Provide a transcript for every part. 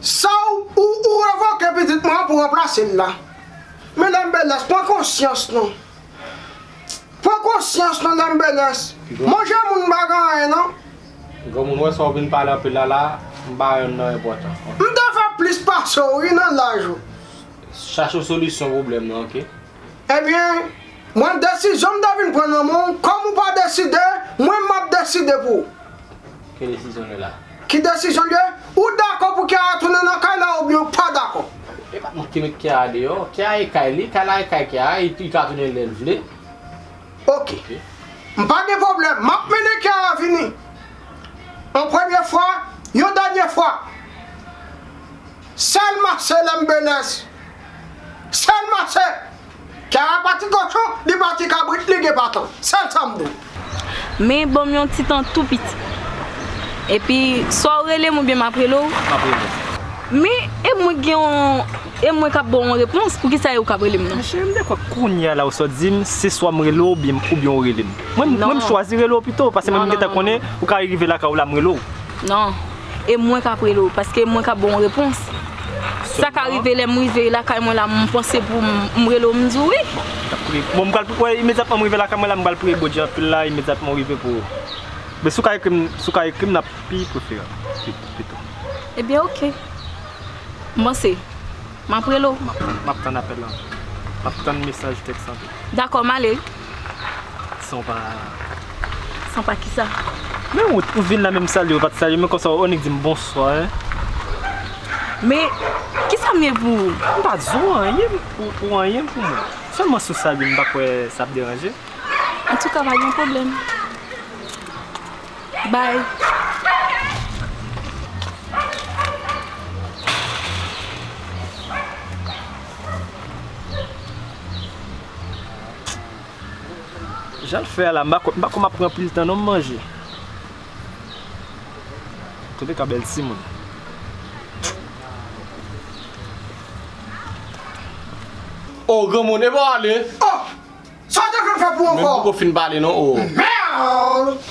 Saw ou ou revoke pitit mwen an pou ranplase l la men dam belès pran konsyans non pran konsyans non dam belès manje moun pa gen anyen non. Granmoun mwen sa ou vin pale anpil la la m pa wè nan enpòtan ok. M te fè plis pase w wi nan laj ou. Chache w solisyon pwoblèm nan ok. Ebyen, mwen desizyon m te vin pran nan men w, kòm ou pa deside, mwen m ap deside pou ou. Ki desizyon l ye la? Ki desizyon l ye? Ou dakò pou Kiara tounen nan kay la oubyen ou pa dakò? E pa mwen ki met Kiara deyò, kay la e kay li, kay la e kay Kiara, li ka tounen lè l vle. Ok. M pa gen pwoblèm, m ap mennen Kiara vini. Yon premye fwa, yon dènye fwa. Sel mache lem benes. Sel mache. Kiara pa ti kochon li pa ti kabrit li gen baton. Sel sam do. Men banm yon ti tan tou piti. Epi swa ou relem oubyen map rele w? Map rele w. Men e mwen gen yon e mwen kap baw yon repons poukisa e ou kap relem nan? Cheri m dekwe kounya la ou sot dim se swa m rele w oubyen oubyen ou relem. Mwen m chwazi rele w pito pase mwen m gentan konnen ou ka rive lakay w la m rele w. Non. e mwen kap rele w paske mwen kap ba w repons sa ka rive lèm rive lakay mwen la m panse pou m rele w m di w wi bon m pral wè imedyatman m rive lakay mwen la m pral priye Bondye anpil la imedyatman w rive pou men si w ka ekri m si w ka ekri m lap pi preferab pito ebyen ok m panse map rele w map tann apèl lan map tann mesaj tèks lan tou dakò m ale San w pa. San w pa kisa? Men ou ou vin la menm salye ou pat salye mwen konsa ou annik dim bonswa hein. Men kisa m ye pou ou? M pa di w anyen ou anyen pou mwen. Sèlman si w salye m m pa kwè sa ap deranje. Antouka pa gen pwoblèm. Bye. Jan l fè a la, m pa kwè, m pa kwè m ap pran anpil tan non m manje. Tande ka bèl timoun. Oh granmoun epa w ale. Oh! Sa w te konn fè pou ankò? Menm poko fin pale non oh. Merde!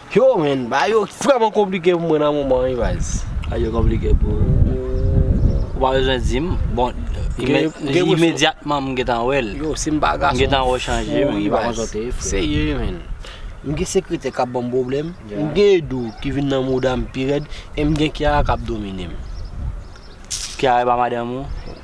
Yo menn bagay yo vreman konplike pou mwen nan moman wi baz. Bagay yo konplike pou ou? Ou pa bezwen di m. Bon imedyatman m gentan wè l. Yo si m pa gason m fou wi baz. M gentan wè w chanje menn m pa konn sa w te ye frè. Serye wi menn. M gen sekretè k ap ban m pwoblèm, m gen Edou ki vin nan mouda m pi rèd e m gen Kiara k ap domine m. Kiara e pa madanm ou?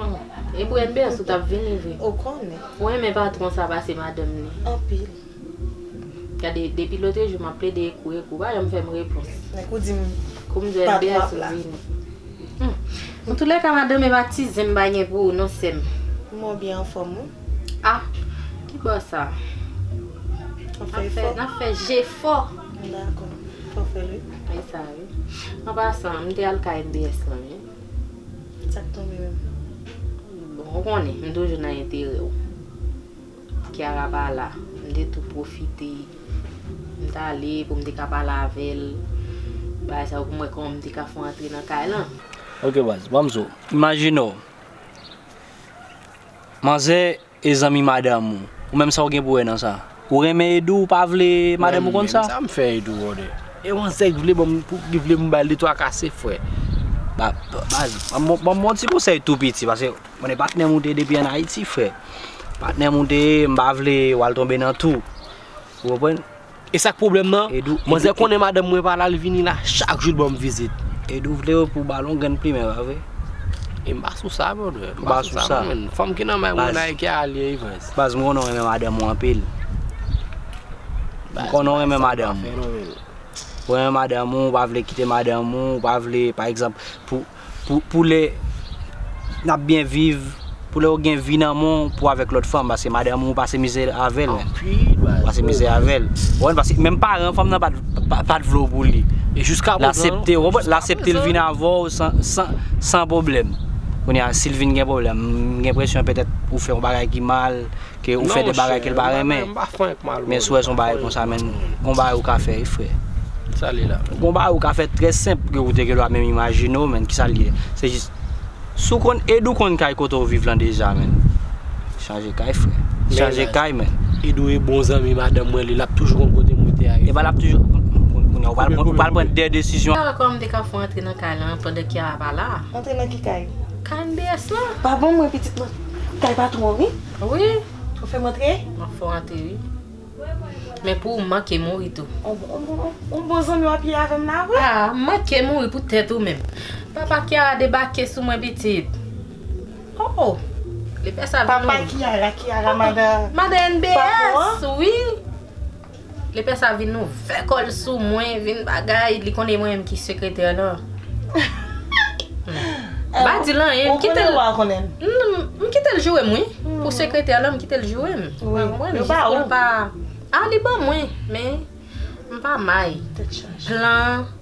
Humm e pou Elbert ou tap vini vre ou konnen. Ou renmen patron sa pase madanm li. Anpil. Gade depi lotrejou map plede ekou ekou ou pa janm fèm repons. Men kou dim Koum di patron ap la. Elbert sou vini. Humm an tou lèka madanm e pa ti zen m bay gen pou ou non sèm. Humm ou byen anfòm wi. Ah ki bo sa. Wap fè efò. Nap fè jefò. M dakò fò fèl wi. Esa wi. An pasan m te al kay MBS lan wi. Sa k tonbe menm? Bon ou konnen m toujou nan enterè w. Kiara pa la, m te tou pwofite. M t ale pou m te ka pale avè l. Bagay sa yo pou m wè kòman m te ka fè w antre nan kay lan. Ok baz, ban m zo. Imajine w, manzè E zanmi madanm ou? Ou menm sa ou gen pou wè nan sa? Ou renmen Edou ou pa vle madanm ou konn sa? Mwen menm sa m fè Edou konnen? E yon zèk vle banm pou li vle m bal 2 3 kase frè? Baz banm yon ti konsèy tou piti paske konnen patnèm ou te depi an Ayiti frè. Patnèm ou te ye m pa vle wal tonbe nan tou. Ou konprann? E sak pwoblèm nan, manzè konnen madanm mwen pa la li vini la chak jou li banm vizit. Edou vle yo pou balon grenn plimen pa vre? E m pa sou sa brother, m pa sou sa man, fanm ki nan may mwen la e ki a alye Evans. Baz m konnen w renmen madanm ou anpil. M konnen w renmen madanm ou. Ou renmen madanm ou, ou pa vle kite madanm ou, ou pa vle pa egzanp pou. Pou lè nap byen viv, pou lè ou gen vi nan men w pou avèk lòt fanm paske madanm ou pase mizè avèl. Ou pase mizè avèl. Ou konprann paske menm paran fanm nan pat vle w pou li. E jiska prezan. L asepte w, ou konprann? L asepte l vin avè w san pwoblèm. Kounye a si l vin gen pwoblèm, m gen enpresyon petèt ou fè yon bagay ki mal. Ke ou fè de bagay kel pa renmen. Men sou wè son bagay konsa menn gon bagay ou ka fè wi frè. Gon bagay ou ka fè trè senp ke ou te gendwa menm imajine w menn kisa l ye. Se jis si w konn ed ou konn kay kote w viv lan deja menn. Chanje kay frè. Chanje kay menn. Ed ou e bon zanmi madanm mwen li lap toujou konn kote mwen te a wi frè. Epa lap toujou konn kounye a ou pral pran de desizyon. Kiara kòman m te ka fè w antre nan kay lan pandan Kiara pa la. Antre nan ki kay? Kay MBS lan. Pa banm mwen pitit mwen. Kay patron wi. Wi. Ou fem antre? Map fe w antre wi. Men pou ou manke mouri tou. On bon zanmi wap ye avem la wi. Ah m manke mouri pou tet ou menm. Papa Kiara debake sou mwen pitit. Oh oh. Li fe sa vin. Papa Kiara, Kiara madan. Madan NBS wi. Lepè sa vin ouvè kòl sou mwen vin bagay li konnen e mwen menm ki sekretè lan m pa dil anyen m kitel m kitel joure m wi pou sekretè lan m kitel joure m jis poul pa a li ban mwen men m pa may plan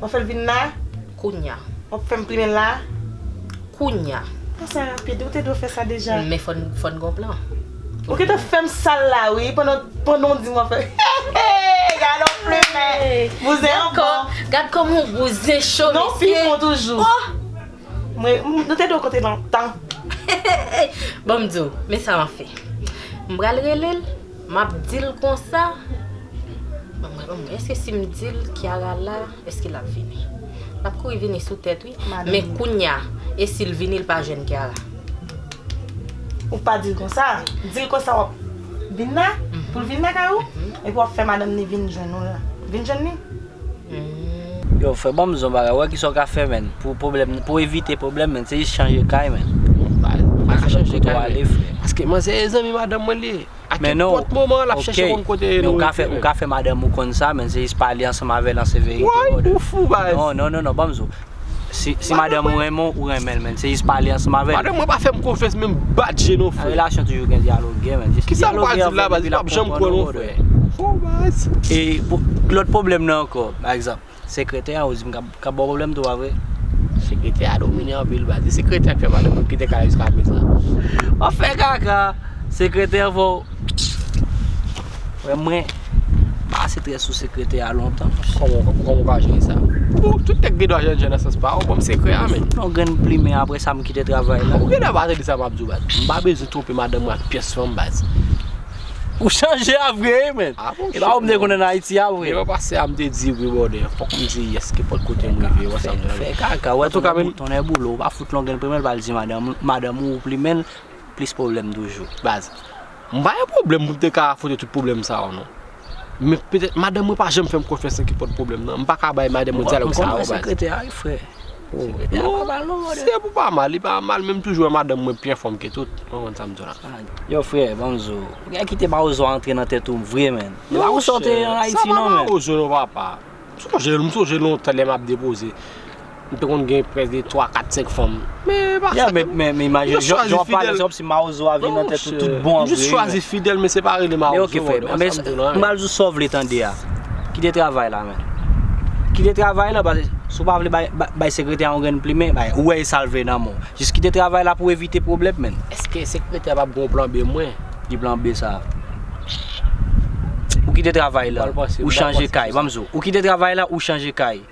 Wap fèl vin la? Kounya. Wap fèm plimen la? Kounya. Pou sa rapid, ou te dwe fè sa deja. Men fòn gen yon plan. Ou gentan fèm sal la wi, pandan w di m wap fè. Heheheh! Gade yon plimen! Bouzen an bon. Gad kòman yon bouzen cho mesye. Non pi fon toujou. Oh! Mwen, nou te dwe konte lontan. Heheheh! Bon m di w, men sa map fè. M pral rele l. Map dil konsa Anmweyy eske sim dil Kiara la eske lap vini Lap kouri vini sou tèt wi Men kounya esil vini li pa jwenn Kiara Ou pa dil konsa Dil konsa wap vin la Poul vin lakay ou Epi wap fè madanm ni vin jwenn ou la Vin jwenn li. Yow frè banm zon bagay wè kisa ou ka fè menn pou problèm pou evite problèm menn se jis chanje kay menn pa gen lòt kote wap ale frè. Paske manzè e zanmi madanm mwen li ye a kenpòt moman lap chèche konn kote nou ye frè. Men ou ka fè madanm ou konn sa menn se jis pale ansanm avèl an se verite ou brother. Woy ou fou baz. Non non non banm zon. Si madanm ou renmen w, ou renmen l menn, se jis pale ansanm avè l. Madanm mwen pa fè m konfyans menm bat je non frè. Nan relasyon toujou gen dyaloge menn, jis dyaloge avè l epi l ap konprann ou brother. E lòt pwoblèm nan ankò, pa egzanp, sekretè an ou di m k ap ba w pwoblèm tou pa vre? Sekretè a domine anpil baz, e sekretè a k fè madanm mwen kite kay la jiska prezan. Wap fè kaka, sekretè fò w. Frè mwen. Ba ase trè sou sekretè a lontan monche. Kòman ou ka jere sa? Bon, tout nèg gen dwa jènjè nan sans pa yo, banm sekrè a menn. Yon grenn plimen apre sa m kite travay la. Ou gen dwa pa tande sa map di w baz. M pa bezwen twonpe madanm mwen ak pyès fanm baz. Ou chanje a vre wi menn. A bon cheri. E pa ou m te konnen nan Ayiti a vre. Devan pase a m te di wi bòdè. Fòk m di yes kenpòt kote m rive wè sa m jwenn. Fè kaka wè tonnè boulon. Ou pa fout longen plimen l pa al di madanm ou plimen l plis pwoblèm toujou. Baz. M pa gen pwoblèm pou m te ka afwonte tout pwoblèm sa yo non. Men petèt madanm mwen pa janm fè m konfyans nan ki pot pwoblèm nan. M pa ka bay madanm mwen dyalòg sa yo baz. Mwen konprann sekretè a wi frè. Sekretè a pa mal non brother. Si e pou pa mal, li pa mal men m toujou wè madanm mwen pi anfòm ke tout. Ou konprann sa m di w la. Yow frè ban m zo. Ou gen kite mawozo a antre nan tèt ou vre menn. E pa pou sa w te an Ayiti non menn. Sa pa mawozo non papa. M sonje lontan lè m ap depoze, m te konn gen près de 3, 4, 5 fanm. Men e pa sa. Men imajine, jan w ap pale se kòmsi mawozo a vin nan tèt ou tout bon an vre. M jis chwazi fidèl men se pa rele mawozo. M pral di w sa w vle tande a. Kite travay la menn. Kite travay la paske si w pa vle bay sekretè a yon grenn plimen, ou wè e sa l vle nan men w. Jis kite travay la pou evite pwoblèm menn. Eske sekretè a p ap gen yon plan B mwen? Ki plan B sa? Ou kite travay la, ou chanje kay. Banm di w, ou kite travay la, ou chanje kay.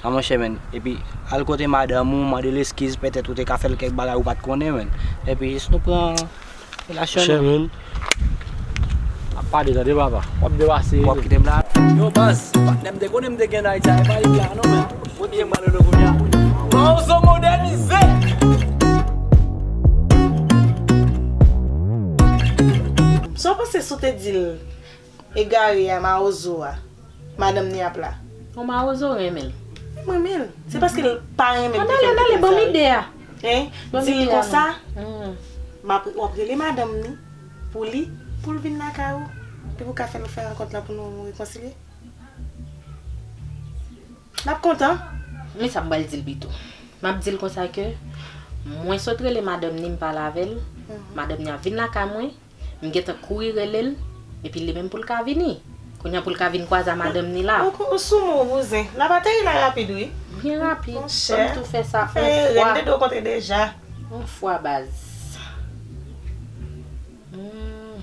A monchè men, epi al kote madanm ou, mande l eskiz, petèt ou te ka fè l kèk bagay ou pa t konnen men. Epi jis nou pran relasyon nou. Monchè men, ap pale tande papa, w ap depase. Ou ap kite m la? Yo baz, patnè m te konnen m te gen nan Ayiti a, e pa li ki la non men. Kote Manolo kounya? Mawozo modènize! Sa w panse si w te di l egare a mawozo a madanm ni ap la? Bon mawozo renmen l. M renmen l. Se paske l pa renmen m ki fè m te konsa wi. Di l konsa, w ap rele madanm ni pou li pou l vin lakay ou epi w ka fè l fè rankont la pou nou rekonsilye. L ap kontan. Men sa m pral di l pito. M ap di l konsa ke mwen sot rele madanm ni m pale avè l, madanm ni a vin lakay mwen, m gentan kouri rele l, epi li menm pou l ka vini. Kounye a pou l ka vin kwaze a madanm ni la. Ou sou mou, bouzen. L ap ateri la rapid wi. Byen rapid. Mon chè. Fò m tou fè sa on fwa. Ou fè erè. M te dwe w kontre deja. On fwa baz. Humm.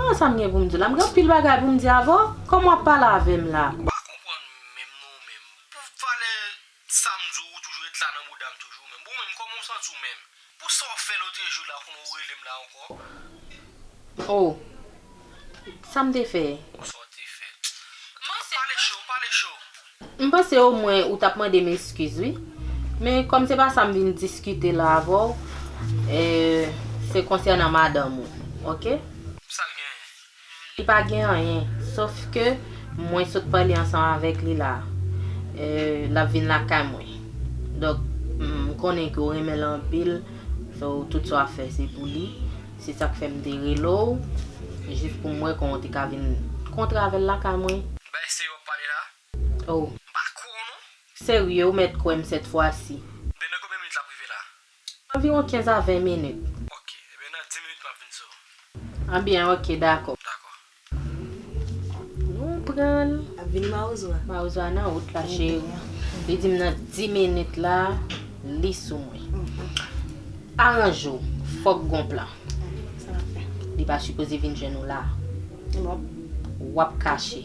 An sa m gen pou m di w la? M gen anpil bagay pou m di avè w. Kòman w ap pale avè m la? Ou pa konprann menm non ou menm. Pou valè sa m di w, ou toujou ret la nan bouda m toujou menm. Bon ou menm kòman w santi w menm? Pou sa w fè lotrejou la kounye a ou rele m la ankò? O! Sa m te fè? Bon sa w te fè? M ap pale cho, pale cho. M panse o mwen ou tap mande m eskiz wi. Men kòm se pa sa m vin diskite la avè w, se konsènan madanm ou. Ok? Pou sa l genyen? Li pa gen anyen. Sof ke mwen sot pale ansanm avèk li la. L ap vin lakay mwen. Donk, m konnen ke w renmen l anpil. So, tout sa w ap fè se pou li. Se sak fè m te rele w jis pou m wè kòman w te ka vin kontre avè l lakay mwen. Ki bagay serye w ap pale la? Oh. M pa kwè w non. Serye, ou mèt kwè m sèt fwa si. Ebyen nan konbyen minit l ap rive la? Anviwon 15 a 20 minit. Ok, ebyen nan 10 minit m ap vin sou w. Anbyen ok, dakò. Dakò. Nou pran l. Ap vini mawozo a. Mawozo a nan wout la cheri. Li di m nan 10 minit la li sou mwen. Aranje w. Fòk gon plan. Sa n ap fè. Li pa sipoze vin jwenn ou la. Wap kache.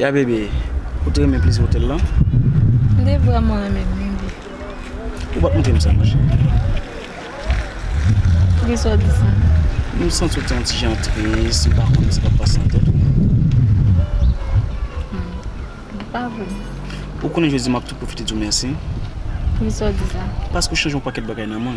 Ya bebe, ou te renmen pliz hotel lan? M te vreman renmen l bebe. Ou pa t montre m sa ma cheri? Poukisa w di sa? M santi w te yon ti jan tris, m pa konnen sa k ap pase nan tèt ou. Ou pa vle m? Ou konnen jodi m ap tou pwofite di w mèsi. Poukisa w di sa? Paske ou chanje yon pakèt bagay nan mwen.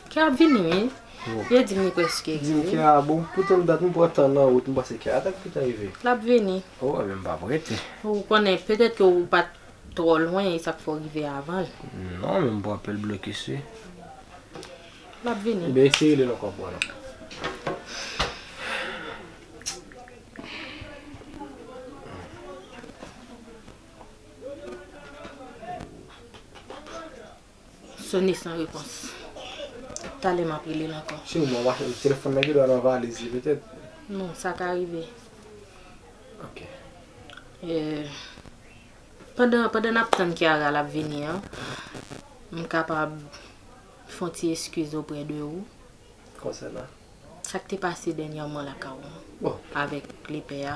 Kè ap vini wi, yo dim li preske rive. Dim kè a bon pou tann dat m pran tan nan wout m panse kè a ta gntan ta rive. Lap vini. Oh ebyen m pa prete. Ou konnen petèt ke ou pat twò lwen e sak fè w rive avan l. Non men m pran pèl blokis wi. Lap vini. Ebyen eseye rele l ankò m pran non. Sone san repons. Talè map rele l ankò. Sinon mwen mache li telefòn nan gen dwa nan valiz li petèt. Non sa ka rive. Ok. Pandan pandan nap tann Kiara lap vini an m kapab fon ti eskiz oprè de ou. Konsènan? Sak te pase dènyèman lakay ou an. Bon. Avèk lepè a.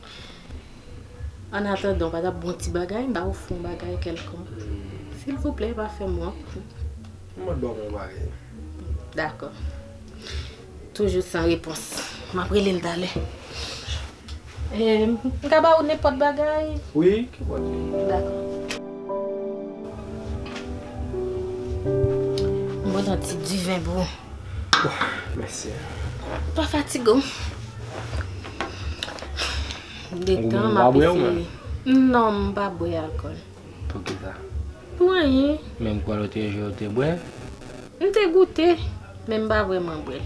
An atandan ou pa tap bon ti bagay m ba ou fon bagay kèlkonk silvouplè pa fèm wont m mèt ba ou yon bagay Dakò Toujou san repons Map rele n talè M ka ba ou nenpòt bagay Wi kenpòt li Dakò M pran yon ti diven pou ou Mèsi Pa fatige w. De tan ma pe fini. Non m pa bwe alkol. Pou ki sa? Pou anyen. Men m kwe lote jou ou te bwe? M te goute, men m pa vreman bwe l.